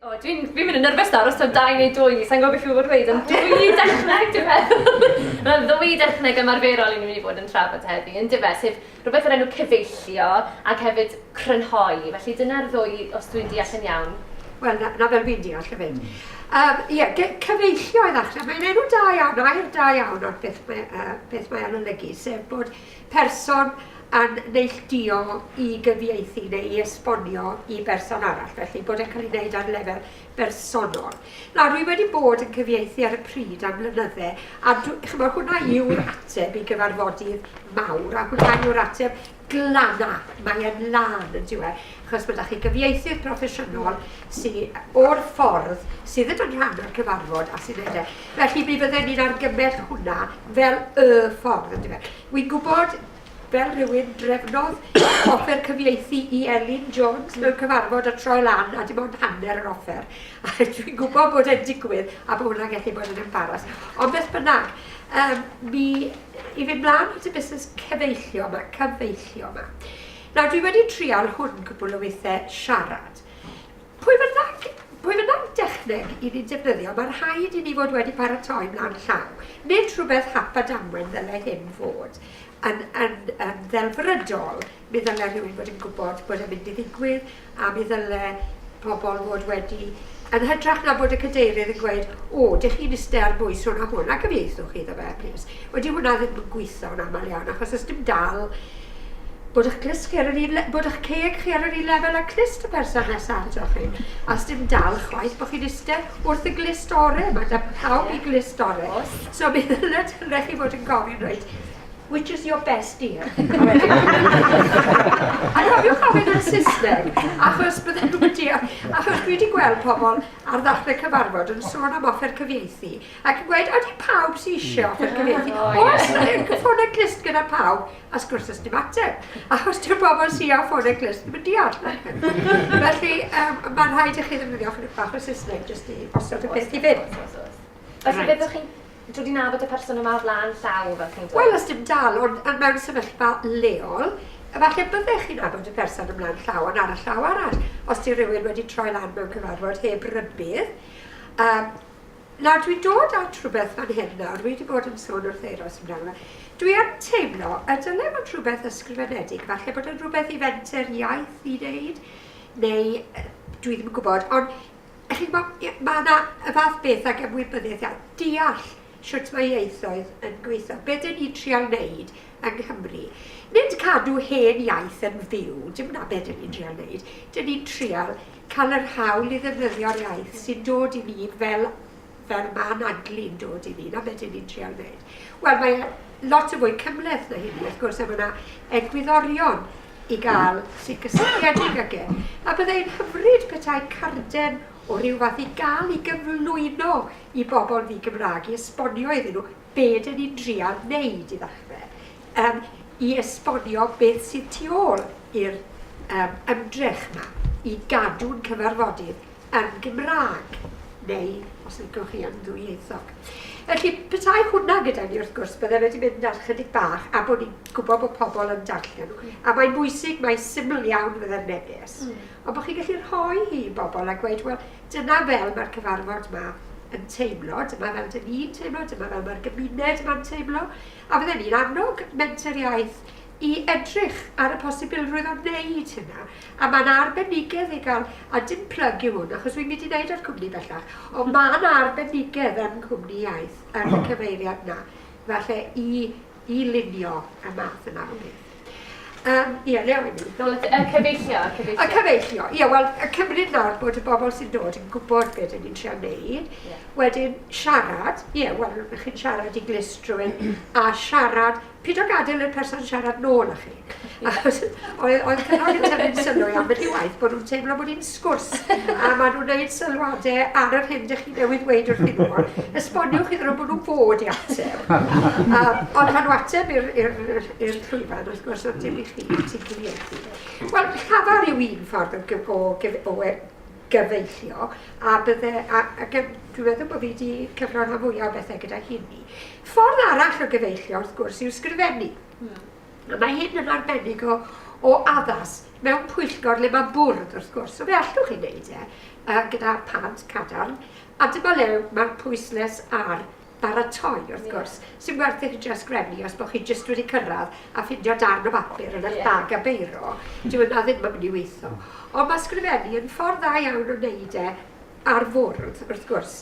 O, dwi'n dwi mynd yn nyrfys nawr, os o'n dau neu dwy, sa'n gwybod beth i fod wedi, ond dwy dechneg, dwi'n meddwl. Mae'n ddwy dechneg ymarferol i ni'n mynd i fod yn trafod heddi, yn dyfa, sef rhywbeth o'r enw cyfeillio ac hefyd crynhoi. Felly dyna'r ddwy, os dwi'n deall yn iawn. Wel, na, na fel fi'n deall y fynd. Um, ie, cyfeillio i ddechrau. Mae'n enw da iawn, air da iawn o'r beth mae, uh, beth mae anolygu, sef bod person yn neilltuo i gyfieithu neu i esbonio i berson arall, felly bod e'n cael ei wneud ar lefel bersonol. Nawr, rwy wedi bod yn cyfieithu ar y pryd am flynydde, a chymod, hwnna yw'r ateb i gyfarfodydd mawr, a hwnna yw'r ateb glana, mae e'n lan yn diwedd, achos mae da chi gyfieithydd proffesiynol sydd o'r ffordd, sydd yn rhan o'r cyfarfod a sy'n edrych. Felly, mi fydden ni'n argymell hwnna fel y ffordd, yndyfe. Wi'n gwybod, fel rhywun, drefnodd offer cyfieithu i Elin Jones mewn cyfarfod a troi lan a dim ond hanner yr offer. A dwi'n gwybod bod e'n digwydd a bod hwnna'n gallu bod yn embaras. Ond beth bynnag, um, mi i fynd mlaen at y busnes cyfeillio yma, cyfeillio yma. Nawr, dwi wedi trial hwn cwbl o weithiau siarad. Pwy bynnag, pwy bynnag dechneg i ni'n defnyddio, mae'n rhaid i ni fod wedi paratoi mlaen llaw. Nid rhywbeth hap a damwen ddylai hyn fod. Yn, yn, yn ddelfrydol, mi ddylai rhywun fod yn gwybod bod e'n mynd i ddigwydd a mi ddylai pobl fod wedi yn hytrach na bod y cadeirydd yn gweud, o, dych chi'n iste ar bwys hwn a hwn, a cyfieithwch chi iddo fe, plîs. Wedi hwnna ddim yn gweithio'n aml iawn achos os dim dal bod eich clust chi ar yr un le- bod eich ceg chi ar yr un lefel â clust y person nesa atoch chi. A os dim dal chwaith bo' chi'n iste wrth y glust ore, ma' da pawb i glust ore. So mi ddyle ddyle chi fod yn gofyn reit which is your best dear? A cofiwch ofyn yn Saesneg, achos bydden nhw'n deall. Achos dwi wedi gweld pobl ar ddechrau cyfarfod yn sôn am offer cyfieithu. Ac yn gweud, odi pawb sy eisiau offer cyfieithu? Os yw'n ffonau clust gyda pawb, a sgwrs os dim ateb. Achos dy'r bobl sy'n â ffonau clust ddim yn deall. Felly, um, mae'n rhaid i chi ddefnyddio chydig bach o Saesneg jyst i osod y peth i fynd. Felly, byddwch chi'n dod i'n nabod y person yma o flaen llaw, fel chi'n dweud? Wel, os dim dal, ond mewn sefyllfa leol, efallai byddech chi'n nabod y person ymlaen llaw, ond ar y llaw arall, os di rhywun wedi troi lan mewn cyfarfod heb rybydd, um, Na, dwi'n dod at rhywbeth fan hyn nawr, wi 'di bod yn sôn wrth Euros amdano fe. Dwi yn teimlo y dyle fod rhywbeth ysgrifenedig, falle bod yn rhywbeth i fenter iaith i wneud, neu dwi ddim yn gwybod, ond chi'n gwybod, mae yna y fath beth ag ymwybyddiaeth iaith, deall sut mae ieithoedd yn gweithio. Be dyn ni'n trial wneud yng Nghymru, nid cadw hen iaith yn fyw, dim na be dyn ni'n trial wneud, dyn ni'n trial Cael yr hawl i ddefnyddio'r iaith sy'n dod i ni fel fel ma' anadlu'n dod i ni, 'na be' dyn ni'n trial neud. Wel mae e lot yn fwy cymhleth na hynny wrth gwrs a ma' 'na egwyddorion i ga'l sy'n gysylltiedig ag e. A bydde e'n hyfryd petai carden o ryw fath i ga'l i gyflwyno i bobl ddi-Gymraeg i esbonio iddyn nhw be dyn ni'n drial wneud i ddechrau, yym i esbonio beth sydd tu ôl i'r yym ymdrech 'ma i gadw'n cyfarfodydd yn Gymraeg, neu os licwch chi yn ddwyieithog. Felly, petai hwnna gyda ni wrth gwrs, bydde fe 'di mynd ar chydig bach, a bod ni'n gwybod bod pobl yn darllen nhw. A mae'n bwysig, mae'n syml iawn fydde'r neges, ond bod chi'n gallu rhoi hi i bobl a gweud, wel, Dyna fel mae'r cyfarfod 'ma yn teimlo, dyma fel dyn ni'n teimlo, dyma fel mae'r gymuned yma'n teimlo, a fydden ni'n annog Menter Iaith i edrych ar y posibilrwydd o wneud hynna. A mae yna arbenigedd i gael, a dim plyg yw hwn, achos wi'n mynd i wneud ar cwmni bellach, ond mae yna arbenigedd yn cwmni iaith, yn y cyfeiriad yna, falle i i lunio y math yma o beth. Um, ie, le o'i ni? Y cyfeillio, y cyfeillio. Y cyfeillio, ie, wel, y cymryd nawr bod y bobl sy'n dod yn gwybod beth ydyn ni'n trio wneud, yeah. wedyn siarad, ie, yeah, wel, chi'n siarad i glust rhywun, a siarad, pyd o gadael i'r person siarad nôl â chi. Achos oedd oedd Cynghorydd Tyfyn's sylwi ambell i waith bod nhw'n teimlo bod hi'n sgwrs a maen nhw'n gwneud sylwadau ar yr hyn ydych chi newydd ddweud wrthyn nhw. Esboniwch iddyn nhw bod nhw'n fod i ateb. A, ond pan nhw ateb i'r llwyfan, wrth gwrs, ond dim i chi, ti'n cyfieithu. Wel, llafar yw un ffordd o, gyf, o, gyf, o e- gyfeillio, a bydde, a, a gyf, dwi'n meddwl bod fi wedi cyfrannu mwyaf o bethau gyda hynny. Ffordd arall o gyfeillio, wrth gwrs, yw sgrifennu. Yeah. Hmm. A mae hyn yn arbennig o, o addas mewn pwyllgor le mae bwrdd, wrth gwrs, so fe allwch chi wneud e uh, gyda pant cadarn, a dyma le mae'r pwysles ar baratoi, wrth yeah. gwrs. Sy'n werth i chi jyst grefnu os bod chi jyst wedi cyrraedd a ffindio darn o bapur yn eich yeah. bag a beiro. Dyw yna ddim yn mynd i weithio. Ond mae sgrifennu yn ffordd dda iawn o wneud e ar fwrdd, wrth gwrs.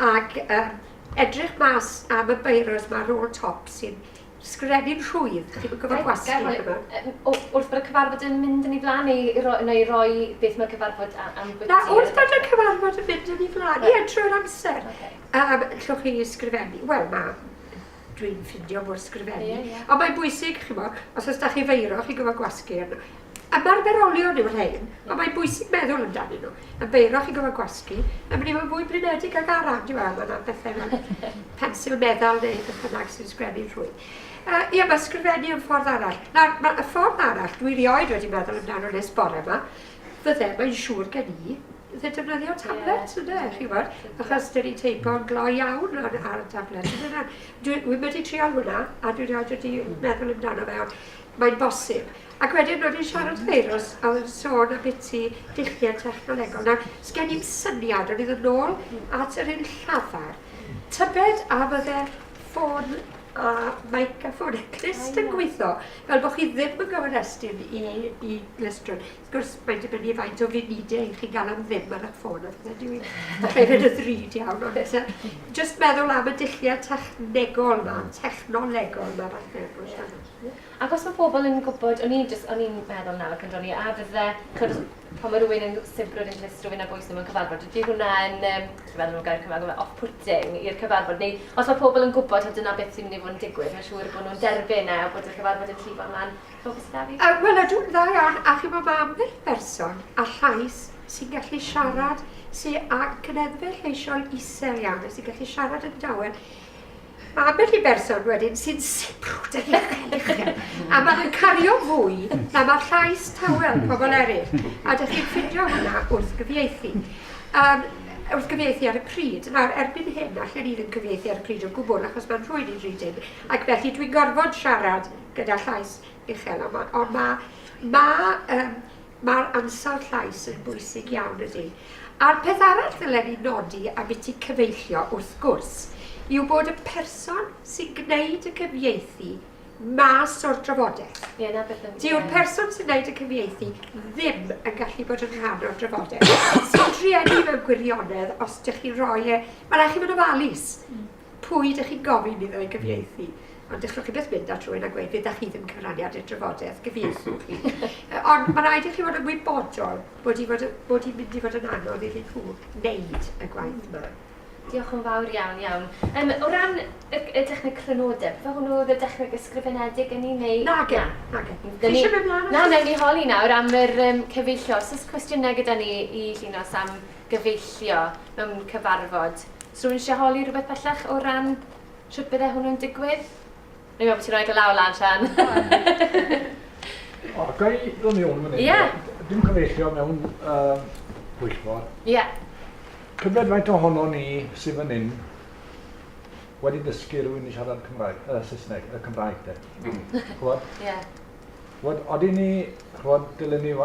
Ac um, edrych mas am y beiros mae rôl top sy'n Sgreddyn rhwydd, chi wedi gorfod gwasgu chydig yma. Wrth bod y cyfarfod yn mynd yn ei flaen neu roi beth mae'r cyfarfod am bwyty? Na, wrth bod y cyfarfod yn mynd yn ei flaen, ie, trwy'r amser. Allwch chi sgrifennu? Wel, mae, dwi'n ffindio bod sgrifennu, ond mae'n bwysig, chi'n gwybod, os oes 'da chi feiro, chi'n gorfod gwasgu arno. Ymarferolion yw'r rhain, ond mae'n bwysig meddwl amdanyn nhw, yn beiroch i gyfan gwasgu, yn mynd i fod yn fwy blinedig ag arall, dyw e ddim yn pethau fel pensil meddal neu beth bynnag sy'n sgrennu'n rhwydd. Uh, ie, mae sgrifennu yn ffordd arall. Nawr, mae y ffordd arall, dwi rioed wedi meddwl amdano nes bore yma, fydde, mae'n siŵr gen i, fydde defnyddio tablet, yeah. ynddo, chi'n gwybod, achos dyn ni'n teipo'n glo iawn ar, ar y tablet. Dwi'n wedi trial hwnna, a dwi'n rioed wedi meddwl amdano fe, ond Mae'n bosib. Ac wedyn o'n i'n siarad firws a oedd yn sôn ambiti dulliau technolegol. Nawr, sgen i'm syniad, o'n i ddod nôl at yr un llafar. Tybed a fydde ffôn a maic a ffôn a clust yn gweithio, fel bod chi ddim yn gyfrestyn i, i glystrwn. Wrth gwrs, mae'n dibynnu faint o funidiau i chi gael am ddim ar eich ffôn a pethau dwi hefyd y ddrud iawn, ond eto, jyst meddwl am y dulliau technegol yma, technolegol yma, falle. Ac os mae pobl yn gwybod, o'n i'n jyst, o'n i'n meddwl nawr pan dro'n i, a fydde, chimod, pan mae rhywun yn sibrwd yn dwys rhywun ar bwys nhw mewn cyfarfod, ydy hwnna yn, um, dwi'n meddwl nhw'n gair Cymraeg, yma, off-putting i'r cyfarfod, neu os mae pobl yn gwybod a dyna beth sy'n mynd i fod yn digwydd, mae'n siŵr bod nhw'n derbyn e a bod y cyfarfod yn llifo ymlaen. Chimod beth sy'n da fi? Uh, Wel, ydw, dda iawn, a chimod mae ambell berson a llais sy'n gallu siarad, sy'n ag cyneffe lleisiol isel iawn, sy'n gallu siarad yn dawel, Mae ambell i berson wedyn sy'n sibrwd yn uchel uchel, a maen nhw'n cario fwy na mae llais tawel pobl eraill, a dych chi'n ffindio hwnna wrth gyfieithu. Um, wrth gyfieithu ar y pryd. Nawr, erbyn hyn, allan ni ddim cyfieithu ar y pryd o gwbl, achos mae'n rhwy'n i'n rydyn, ac felly dwi'n gorfod siarad gyda llais uchel, ond mae, ma, ma, um, Mae'r ansawdd llais yn bwysig iawn, ydy. A'r peth arall ddylen i nodi, ambiti cyfeillio wrth gwrs, yw bod y person sy'n gwneud y cyfieithu mas o'r drafodaeth. Ie, na beth yn... Dyw'r person sy'n gwneud y cyfieithu ddim yn gallu bod yn rhan o'r drafodaeth. Sy'n drueni mewn gwirionedd, os ydych chi'n rhoi e, mae'n rhaid chi fod yn ofalus. Mm. Pwy ydych chi'n gofyn iddo ei gyfieithu? Ond dechwch chi byth mynd at rhywun a gweud fe da chi ddim cyfraniad i'r drafodaeth, gyfieithu chi. Ond mae rhaid i chi fod yn wybodol bod hi'n fod, bod hi'n mynd i fod yn anodd iddyn nhw wneud y gwaith yma. Diolch yn fawr iawn, iawn. Um, o ran y, y dechneg crynodeb, fe hwnnw oedd y dechneg ysgrifenedig yn ei neu... Na, gen, na, gen. Chi eisiau mynd mlaen? Na, newn ni holi nawr am yr um, cyfeillio. Os oes cwestiynau gyda ni i Llinos am gyfeillio mewn cyfarfod. Os rhywun eisiau holi rhywbeth bellach o ran sut bydde hwnnw'n digwydd? Rwy'n meddwl bod ti'n rhoi dy law lan, Sian. o, ga i ddod i hwn fan hyn? Yeah. Dim cyfeillio mewn uh, pwyllgor. Ie. Yeah. Tybed faint ohono ni sydd fan hyn wedi dysgu rhywun i siarad Cymraeg, uh, Saesneg, y uh, Cymraeg de. Mm. Chwod? Ie. Yeah. Chwod, oedden ni, chwod, dylen ni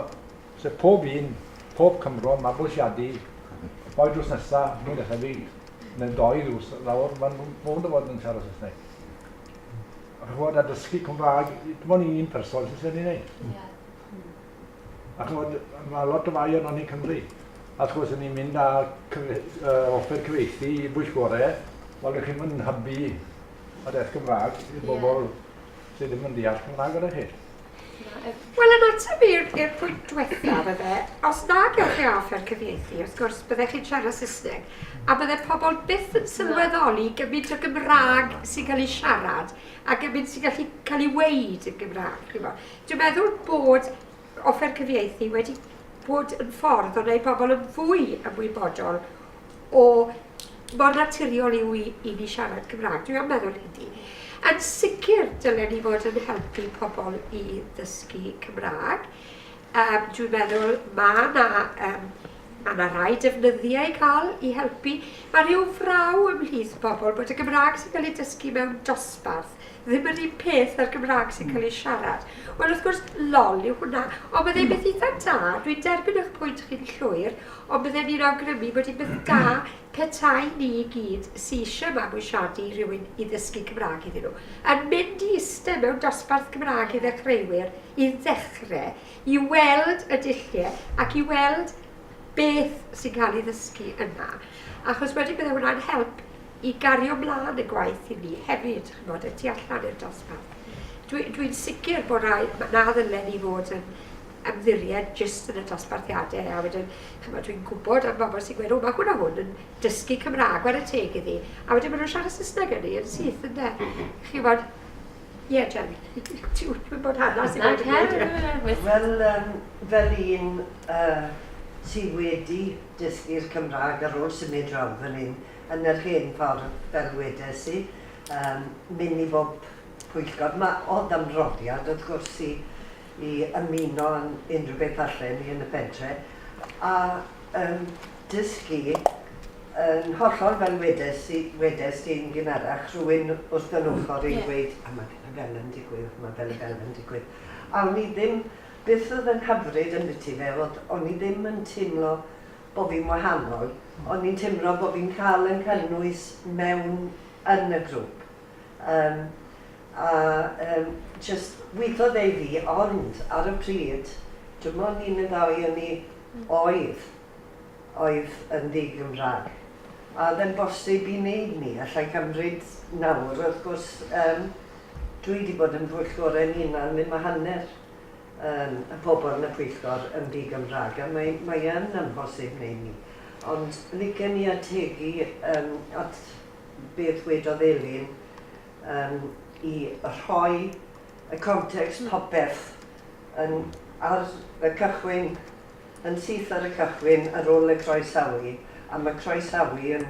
Sef pob un, pob Cymro, mabwysiadu, ddoe drws nesa, mwy na thebyg, neu ddoe drws lawr, mae'n mynd o fod yn siarad Saesneg. Ac chymod, a dysgu Cymraeg, dim ond un person sy'n sy'n ei wneud. A chymod, mae lot o fai o'n o'n i'n Cymru. A wrth gwrs, ni'n mynd â cyfe, uh, offer cyfeithi i bwyllgorau, wel, ydych chi'n mynd hybu a deth Gymraeg i'r bobl yeah. sydd ddim yn deall Cymraeg gyda chi. Wel, yn ateb i'r i'r pwynt diwethaf, efe, os na gewch chi offer cyfieithu, wrth gwrs, byddech chi'n siarad Saesneg, a bydde pobl byth yn sylweddoli gymaint o Gymraeg sy'n cael ei siarad a gymaint sy'n gallu cael ei weud yn Gymraeg. Dwi'n meddwl bod offer cyfieithu wedi bod yn ffordd o wneud pobl yn fwy ymwybodol o mor naturiol yw i, i ni siarad Cymraeg, dwi am meddwl hynny. Yn sicr, dylen ni fod yn helpu pobl i ddysgu Cymraeg. Um, dwi'n meddwl mae yna um, Mae yna rhai defnyddiau i cael i helpu. Mae rhyw fraw ymhlith pobl bod y Gymraeg sy'n cael ei dysgu mewn dosbarth ddim yr un peth na'r Gymraeg sy'n cael ei siarad. Wel, wrth gwrs, lol yw hwnna. Ond byddai'n hmm. beth eitha da, dwi'n derbyn eich pwynt chi'n llwyr, ond byddai'n ni'n awgrymu bod hi'n beth da petai ni i gyd sy'n eisiau mabwysiadu rhywun i ddysgu Cymraeg iddyn nhw. Yn mynd i eistedd mewn dosbarth Cymraeg i ddechreuwyr, i ddechrau, i weld y dulliau ac i weld beth sy'n cael ei ddysgu yna. Achos wedyn byddai hwnna'n help i gario mlaen y gwaith i ni hefyd, ch'mod, y tu allan i'r dosbarth. Dwi, dwi'n sicr bod rai, na ddylen ni fod yn ymddiried jyst yn y dosbarthiadau, a wedyn, ch'mod, dwi'n gwybod am bobl sy'n gweud, o, mae hwn a hwn yn dysgu Cymraeg, ar y teg iddi, a wedyn maen nhw'n siarad Saesneg yn ni, yn syth, ynde. Mhm. Chi'n bod, Ie, yeah, Jen, ti'n bod hana sy'n bod yn gwneud. Wel, um, fel un uh, sydd wedi dysgu'r Cymraeg ar ôl symud rhan fan hyn, yn yr hen ffordd, fel ddwedes i, yym mynd i bob pwyllgor. Mae o ddamroddiad wrth gwrs i i ymuno yn unrhyw beth allen ni yn y pentre, a yym dysgu yn hollol fel wedes i wedes di yn gynharach, rhywun wrth yn ochr i'n gweud a mae fel a fel yn digwydd, mae fel a fel yn digwydd. A o'n i ddim, beth oedd yn hyfryd ambiti fe oedd o'n i ddim yn teimlo bo fi'n wahanol, ond fi'n timlo bo fi'n cael yn cynnwys mewn yn y grwp. Yym a yym jyst weithodd e i fi, ond ar y pryd dim ond un neu ddau o ni oedd oedd yn ddi-Gymraeg. A oedd e'n bosib i wneud 'ny? Alla i cymryd nawr, wrth gwrs yym dwi 'di bod yn pwyllgorau'n hunan ddim a hanner. yym, y pobl yn y pwyllgor yn ddi-Gymraeg, a mae, mae yn amhosib wneud 'ny. Ond licen i ategu yym at beth wedodd Elin yym i rhoi y context popeth yn ar y cychwyn, yn syth ar y cychwyn ar ôl y croesawu, a ma' croesawu yn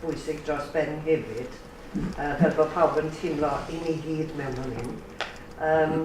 bwysig dros ben hefyd, yy fel bod pawb yn teimlo 'yn ni gyd mewn fan hyn'. Yym.